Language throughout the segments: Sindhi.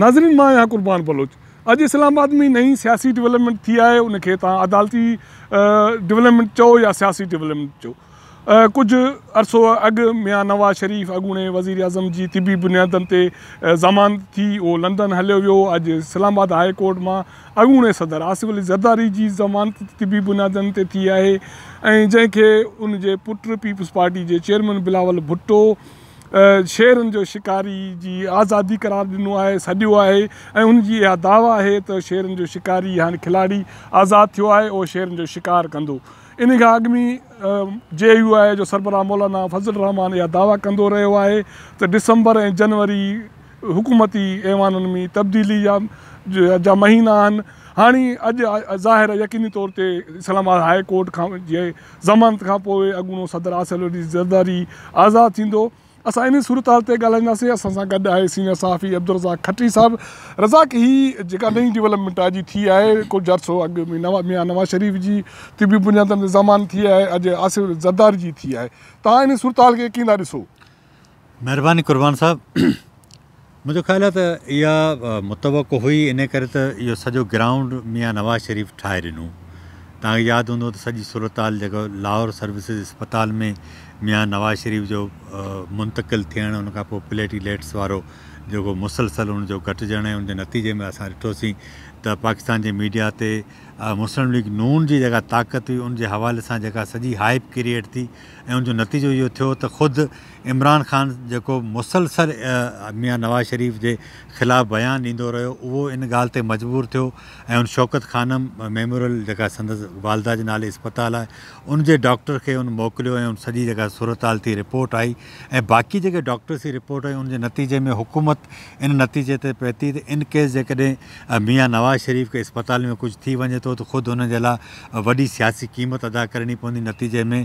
ناظرين مان آهيان قربان بلوچ اڄ اسلام آباد ۾ نئين سياسي ڊولپمينٽ ٿي آهي ان کي توهان عدالتي ڊولپمينٽ چئو يا سياسي ڊولپمينٽ چئو ڪجهه عرصو اڳ ميان نواز شريف اڳوڻي وزير اعظم جي طبي بنيادن تي ضمانت ٿي اهو لنڊن هليو ويو اڄ اسلام آباد هاء ڪورٽ مان اڳوڻي صدر آصف علي زرداري جي ضمانت طبي بنيادن تي ٿي آهي ۽ جنهن کي ان جي پٽ پيپلز پارٽي جي چيئرمين بلاول ڀٽو شيرن جو شڪاري جي آزادي قرار ڏنو آهي، سڏيو آهي ۽ ان جي اها دعويٰ آهي ته شيرن جو شڪاري هاڻي کلاڙي آزاد ٿيو آهي اهو شيرن جو شڪار ڪندو. انهي کان اڳ ۾ جي يو آء جو سربراهه مولانا فضل الرحمان اها دعويٰ ڪندو رهيو آهي ته ڊسمبر ۽ جنوري حڪومتي ايوانن ۾ تبديلي جا مهينا آهن هاڻي اڄ ظاهر يقيني طور تي اسلام آباد هاء ڪورٽ کان جي ضمانت کان پوء اڳوڻو صدر آصف علي زرداري آزاد ٿيندو، اسان انهي صورتحال تي ڳالهائينداسين، اسان سان گڏ آهي سينيئر صحافي عبدالرزاق کٽري صاحب، رزاق هي جيڪا نئين ڊولپمينٽ آء جي ٿي آهي ڪجهه عرصو اڳ ميان نواز شريف جي طبي بنيادن تي ضمانت ٿي آهي اڄ آصف علي زرداري جي ٿي آهي، توهان انهي صورتحال کي ڪيئن ٿا ڏسو؟ مھرباني قربان صاحب منھنجو خيال آھي ته اها متوقع هئي ان ڪري ته اهو سڄو گرائونڊ ميان نواز شريف ٺاهي ڏنو تنهن کي ياد هوندو ته سڄي صورتحال جيڪو لاهور سروسز اسپتال ۾ ميان نواز شريف جو منتقل ٿيڻ ان کان پوء پليٽي ليٽس وارو جيڪو مسلسل ان جو گهٽجڻ ۽ ان جي نتيجي ۾ اسان ڏٺوسين ته پاڪستان جي ميڊيا تي مسلم ليگ نون جي جيڪا طاقت هئي ان جي حوالي سان جيڪا سڄي هائپ ڪريئيٽ ٿي ۽ ان جو نتيجو اهو ٿيو ته خود عمران خان جيڪو مسلسل ميان نواز شريف جي خلاف بيان ڏيندو رهيو اهو ان ڳالهه تي مجبور ٿيو ۽ ان شوڪت خانم ميموريل جيڪا سندس والده جي نالي اسپتال آهي ان جي ڊاڪٽر کي ان موڪليو ۽ ان سڄي جيڪا صورتحال ٿي رپورٽ آئي ۽ باقي جيڪي ڊاڪٽرس جي رپورٽ آئي ان جي نتيجي ۾ حڪومت ان نتيجي تي پهتي ته ان ڪيس جيڪڏهن ميان نواز شريف کي اسپتال ۾ ڪجهه ٿي وڃي ٿو ته خود ان جي لاء وڏي سياسي قيمت ادا ڪرڻي پوندي، نتيجي ۾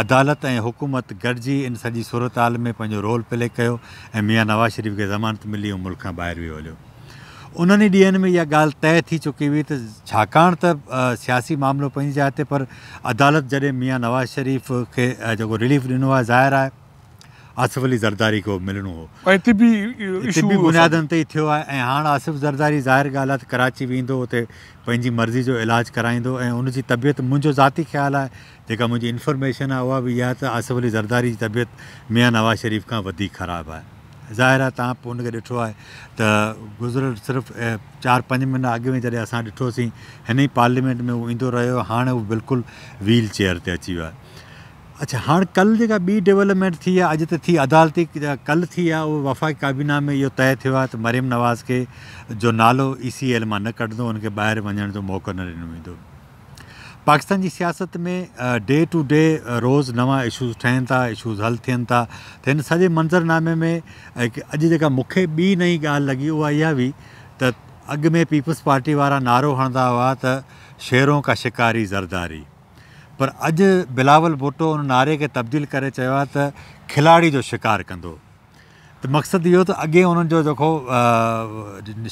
عدالت ۽ حڪومت گڏجي ان سڄي صورتحال ۾ پنهنجو رول پلي ڪيو ۽ ميان نواز شريف کي ضمانت ملي هو ملڪ کان ٻاهر ويو هليو. انهن ئي ڏينهن ۾ اها ڳالهه طئي ٿي چڪي هئي ته ڇاڪاڻ ته سياسي معاملو پنهنجي جاء تي پر عدالت جڏهن ميان نواز شريف کي جيڪو رليف ڏنو آهي ظاهر آهي آصف علي زرداري کي ملڻو هو. ۽ طبي بنيادن تي ئي ٿيو آهي ۽ هاڻ آصف زرداري ظاهر ڳالهه آهي ته ڪراچي ويندو اتي پنهنجي مرضي جو علاج ڪرائيندو ۽ ان جي طبيعت منهنجو ذاتي خيال آهي جيڪا منهنجي انفرميشن آهي اها به اها آهي ته آصف علي زرداري جي طبيعت ميان نواز شريف کان وڌيڪ خراب آهي ظاهر آهي تهان به ان کي ڏٺو آهي ته گذريل صرف چار پنج مهينا اڳ ۾ جڏهن اسان ڏٺوسين هن ئي پارليمينٽ ۾ هو ايندو رهيو هاڻ هو بلڪل ويل چيئر تي اچي ويو آهي اڇا هاڻ ڪل جيڪا ٻي ڊيولپمينٽ ٿي آهي اڄ ته ٿي عدالتي ڪل ٿي آهي اهو وفاقي ڪابينا ۾ اهو طئي ٿيو آهي ته مريم نواز کي جو نالو اي سي ايل مان نه ڪڍندو ان کي ٻاهر وڃڻ جو موقعو نه ڏنو ويندو پاڪستان جي سياست ۾ ڊي ٽو ڊي روز نوان اشوز ٺهن ٿا اشوز حل ٿين ٿا ته هن سڄي منظرنامي ۾ اڄ جيڪا مونکي ٻي نئي ڳالهه لڳي اها اها هئي ته اڳ ۾ پيپلز پارٽي وارا نعرو هڻندا هئا ته شيرون کا شڪاري زرداري پر اڄ بلاول ڀٽو ان نعري کي تبديل ڪري چيو آهي ته کلاڙي جو شڪار ڪندو ته مقصد اهو ته اڳي انهن جو جيڪو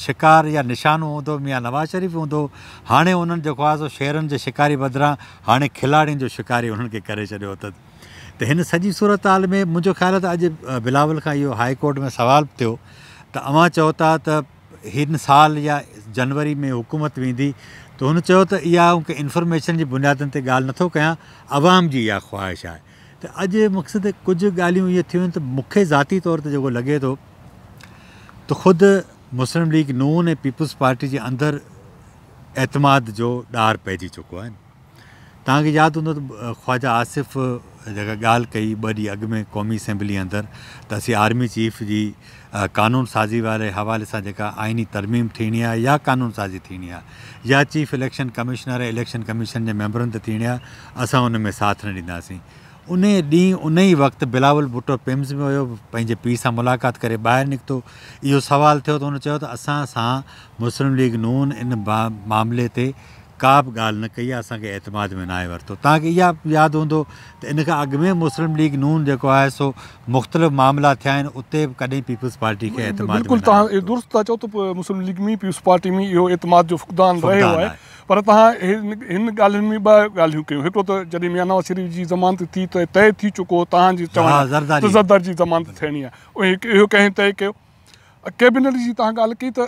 شڪار يا نشانو هوندو ميان نواز شريف هوندو هاڻي انهن جيڪو آهي سو شيرن جي شڪاري بدران هاڻي کلاڙين جو شڪاري انهن کي ڪري ڇڏيو اٿن ته هن سڄي صورتحال ۾ منهنجو خيال ته اڄ بلاول کان اهو هاء ڪورٽ ۾ سوال به ٿيو ته اوهان چئو ٿا ته هن سال يا جنوري ۾ حڪومت ويندي ته هن چيو ته اها آئون ڪنهن انفارميشن جي بنيادن تي ڳالهه نٿو ڪيان عوام جي اها خواهش آهي ته اڄ مقصد ڪجهه ڳالهيون اهي ٿيون آهن ته مون کي ذاتي طور تي جيڪو لڳي ٿو ته خود مسلم ليگ نون ۽ پيپلز پارٽي جي اندر اعتماد جو ڏار پئجي چڪو آهن توهان کي ياد هوندو ته خواجا آصف جيڪا ڳالهه ڪئي ٻه ڏينهن اڳ ۾ قومي اسيمبلي اندر ته اسين آرمي چيف جي قانون سازي واري حوالي سان جيڪا آئيني ترميم ٿيڻي آهي يا قانون سازي ٿيڻي آهي يا chief election commissioner ۽ election commission جي ميمبرن تي ٿيڻي آهي اسان ان ۾ ساٿ نه ڏينداسين ان ڏينهن ان ئي وقت بلاول ڀٽو پمز ۾ ويو پنهنجي پيء سان ملاقات ڪري ٻاهر نڪتو اهو سوال ٿيو ته هن چيو ته اسان سان مسلم ليگ نون ان معاملي تي ڪا به ڳالهه نه ڪئي اسان کي اعتماد ۾ ناهي ورتو توهان کي اها به ياد هوندو ته ان کان اڳ ۾ مسلم ليگ نون جيڪو آهي سو مختلف معاملا ٿيا آهن اتي به ڪڏهن پيپلز پارٽي کي اعتماد ۾ ناهي ورتو. بلڪل توهان اهو درست ٿا چئو ته مسلم ليگ ۾ پيپلز پارٽي ۾ اهو اعتماد جو فقدان رهيو آهي پر توهان هن ڳالهين ۾ ٻه ڳالهيون ڪيون هڪڙو ته جڏهن ميان نواز شريف جي ضمانت ٿي ته طئي ٿي چڪو هو توهان جي چوڻ ته زرداري جي ضمانت ٿيڻي آهي اهو ڪنهن طئي ڪيو؟ ڪيبنٽ جي تان ڳالهه ڪئي ته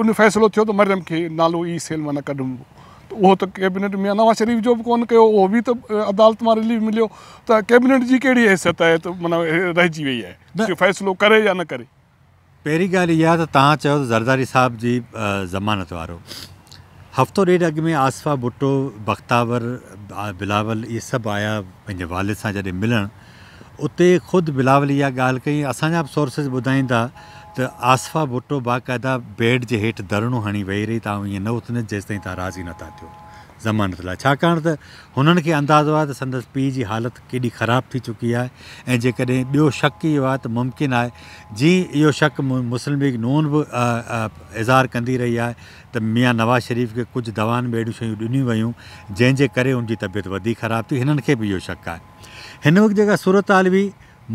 ان فيصلو ٿيو ته مريم کي نالو ئي سيل مان نه ڪڍبو ته اهو ته ڪيبنٽ ميان نواز شريف جو به ڪو نه ڪيو اهو به ته عدالت مان رليف مليو ته ڪيبنٽ جي ڪهڙي حيثيت آهي ته معنيٰ رهجي وئي آهي جو فيصلو ڪري يا نه ڪري. پهرين ڳالهه اها ته تهان چيو ته زرداري صاحب جي ضمانت وارو هفتو ڏيڍ اڳ ۾ آصفه ڀٽو بختاور بلاول اهي سڀ آيا پنهنجي والد سان جڏهن ملڻ اتي خود بلاول اها ڳالهه ڪئي، اسان جا به سورسز ٻڌائين ٿا ته آصفه ڀٽو باقاعده بيڊ جي هيٺ ڌرڻو هڻي ويهي رهي ته آئون ائين نه اٿندس جيستائين توهان راضي نه ٿا ٿيو ضمانت لاء ڇاڪاڻ ته هنن کي اندازو آهي ته سندس پيء جي حالت ڪيڏي خراب ٿي چڪي آهي ۽ جيڪڏهن ٻيو شڪ اهو آهي ته ممڪن آهي جي اهو شڪ مسلم ليگ نون به اظهار ڪندي رهي آهي ته ميان نواز شريف کي ڪجهه دوائن ۾ اهڙيون شيون ڏنيون ويون جنهن جي ڪري هن جي طبيعت وڌيڪ خراب ٿي هنن کي به اهو شڪ آهي هن وقت جيڪا صورتحال هئي،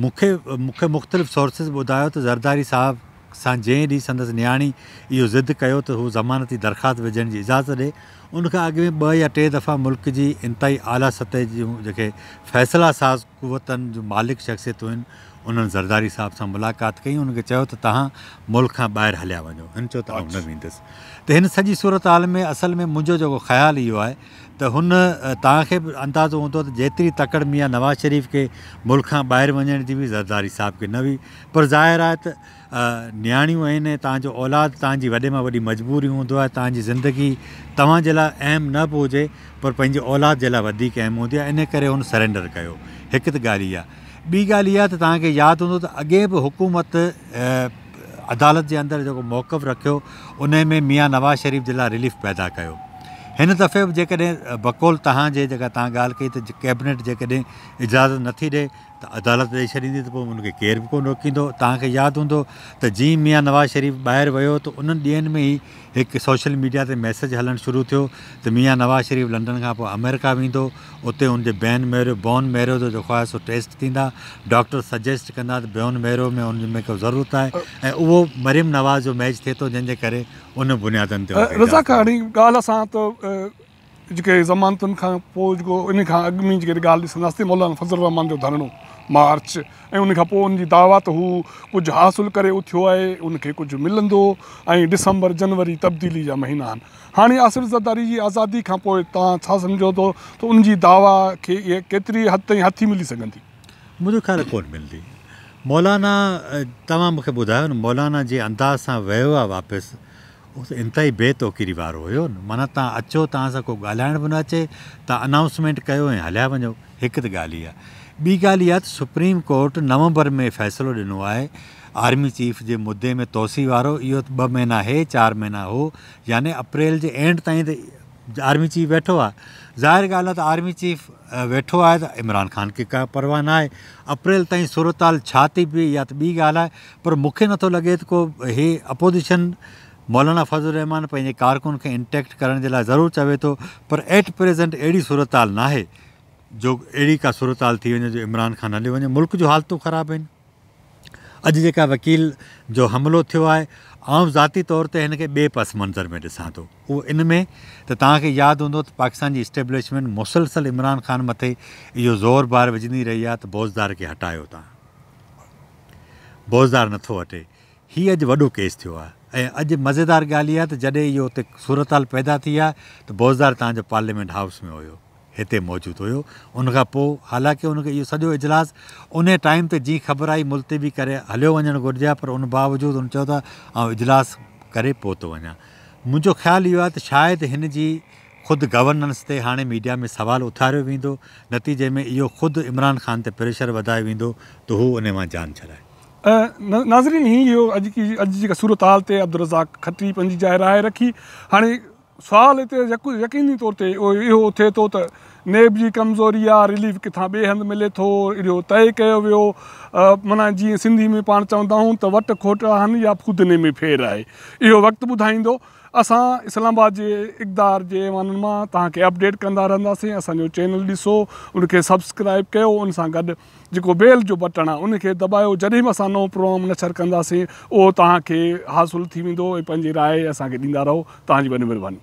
مون کي مون کي مختلف سورسز ٻڌايو ته زرداري صاحب سان جنهن ڏينهن سندس نياڻي اهو ضد ڪيو ته هو ضمانتي درخواست وجهڻ جي اجازت ڏي، ان کان اڳ ۾ ٻه يا ٽي دفعا ملڪ جي انتهائي اعليٰ سطح جون جيڪي فيصلا ساز قوتن جون مالڪ شخصيتون هن، انهن زرداري صاحب سان ملاقات ڪئي ۽ انهن کي چيو ته تهان ملڪ کان ٻاهر هليا وڃو، هن چيو ته آئون نه ويندس ته هن سڄي صورتحال ۾ اصل ۾ منهنجو جيڪو خيال اهو آهي ته هن توهان کي به اندازو هوندو ته جيتري تڪڙ ميان نواز شريف کي ملڪ کان ٻاهر وڃڻ جي هئي زرداري صاحب کي نه هئي پر ظاهر آهي ته نياڻيون آهن ۽ توهان جو اولاد توهان جي وڏي مان وڏي مجبوري هوندو آهي توهان جي زندگي توهان جي لاء اهم نه به هجي پر پنهنجي اولاد جي لاء وڌيڪ اهم هوندي آهي ان ڪري هن سرينڊر ڪيو هڪ ته ڳالهه اها ٻي ڳالهه اها ته توهان کي ياد هوندو ته اڳي به حڪومت عدالت جي اندر جيڪو موقف رکيو انهي ۾ ميان نواز شريف جي لاء رليف پيدا ڪيو. هن دفعي به جيڪڏهن بقول توهان جي جيڪا توهان ڳالهه ڪئي ته ڪيبنيٽ جيڪڏهن اجازت نٿي ڏئي ته عدالت ڏئي ڇڏيندي ته پوء ان کي ڪير به ڪونه روڪيندو. توهان کي ياد هوندو ته جئين ميان نواز شريف ٻاهر ويو ته انهن ڏينهن ۾ ئي هڪ سوشل ميڊيا تي ميسيج هلڻ شروع ٿيو ته ميان نواز شريف لنڊن کان پوء آمريڪا ويندو، اتي هن جي بين ميرو، Bone Marrow، جو خواهه سو ٽيسٽ ٿيندا، ڊاڪٽر سجيسٽ ڪندا ته بيون ميرو ۾ هن ۾ ڪو ضرورت آهي ۽ اهو مريم نواز جو ميچ ٿئي ٿو جنهن جي ڪري ان بنيادن تي هو رضا ڪهاڻي ڳالهه سان ته جيڪي ضمانتن کان پوء جيڪو ان کان اڳ ۾ جيڪي ڳالهه ڏسنداسين مولانا فضل الرحمان جو ڌرڻو مارچ ۽ ان کان پوء ان جي دعويٰ ته هو ڪجهه حاصل ڪري اٿيو آهي ان کي ڪجهه ملندو ۽ ڊسمبر جنوري تبديلي جا مهينا آهن هاڻي آصف زرداري جي آزادي کان پوء توهان ڇا سمجهو ٿو ته ان جي دعويٰ کي ڪيتري حد تائين هٿي ملي سگهندي؟ منهنجو خيال ڪونه ملندي مولانا توهان مون کي ٻڌايو نه مولانا جي انداز سان ويو آهي واپس هو ته انتهائي بي توقيري وارو هيو نه، معنيٰ توهان اچو، توهان سان ڪو ڳالهائڻ به نه اچي، توهان انائونسمينٽ ڪيو ۽ هليا وڃو، هڪ ته ڳالهه اها. ٻي ڳالهه اها ته سپريم ڪورٽ نومبر ۾ فيصلو ڏنو آهي آرمي چيف جي مدي ۾ توسيع وارو، اهو ته ٻه مهينا هي چار مهينا هو، يعني اپريل جي اينڊ تائين ته آرمي چيف ويٺو آهي، ظاهر ڳالهه آهي ته آرمي چيف ويٺو آهي ته عمران خان کي ڪا پرواهه ناهي، اپريل تائين صورتحال ڇا ٿي بيهي اها ته ٻي ڳالهه آهي، پر مون کي نٿو لڳي ته ڪو هي اپوزيشن مولانا فضل الرحمان پنهنجي ڪارڪن کي انٽيڪٽ ڪرڻ جي لاء ضرور چوي ٿو پر ايٽ پريزنٽ اهڙي صورتحال ناهي جو اهڙي ڪا صورتحال ٿي وڃي جو عمران خان هليو وڃي ملڪ جون حالتون خراب آهن اڄ جيڪا وڪيل جو حملو ٿيو آهي آئون ذاتي طور تي هن کي ٻئي پس منظر ۾ ڏسان ٿو اهو ان ۾ ته توهان کي ياد هوندو ته پاڪستان جي اسٽيبلشمنٽ مسلسل عمران خان مٿي اهو زور بار وجهندي رهي آهي ته بوزدار کي هٽايو تان بوزدار نٿو هٽي. هي اڄ وڏو ڪيس ٿيو آهي ۽ اڄ مزيدار ڳالهه اها ته جڏهن اهو اتي صورتحال پيدا ٿي آهي ته بوزدار توهان جو پارليامينٽ هائوس ۾ هيو، هتي موجود هيو، ان کان پوء حالانڪه ان کي اهو سڄو اجلاس انهي ٽائيم تي جيئن خبر آئي ملتوي ڪري هليو وڃڻ گهرجي ها پر ان باوجود هن چيو ته آئون اجلاس ڪري پوء ٿو وڃان. منهنجو خيال اهو آهي ته شايد هن جي خود گورننس تي هاڻي ميڊيا ۾ سوال اٿاريو ويندو، نتيجي ۾ اهو خود عمران خان تي پريشر وڌايو ويندو ته هو انهي مان جان ڇڏائي. ناظرين هي هئي اڄ جي جيڪا صورتحال تي عبدالرزاق کٽي پنهنجي جاء راء رکي. هاڻي سوال هتي يقيني طور تي اهو اٿي ٿو ته نيب جي ڪمزوري آ، رليف ڪٿان ٻئي هنڌ ملي ٿو، اهو طئي ڪيو ويو معنيٰ جيئن سنڌي ۾ پاڻ چوندا آهون ته وٽ کوٽ آهن يا ڦودني ۾ ڦير آهي اهو وقت ٻڌائيندو. اسان اسلام آباد جي اقدار جي ايوانن مان توهان کي اپڊيٽ ڪندا رهنداسين اسان جو چينل ڏسو ان کي سبسڪرائب ڪيو ان سان گڏ جيڪو بيل جو بٽڻ آهي ان کي دٻايو جڏهن به اسان نئون پروگرام نشر ڪنداسين اهو توهان کي حاصل ٿي ويندو ۽ پنهنجي راء اسان کي ڏيندا رهو توهان جي وڏي مھرباني.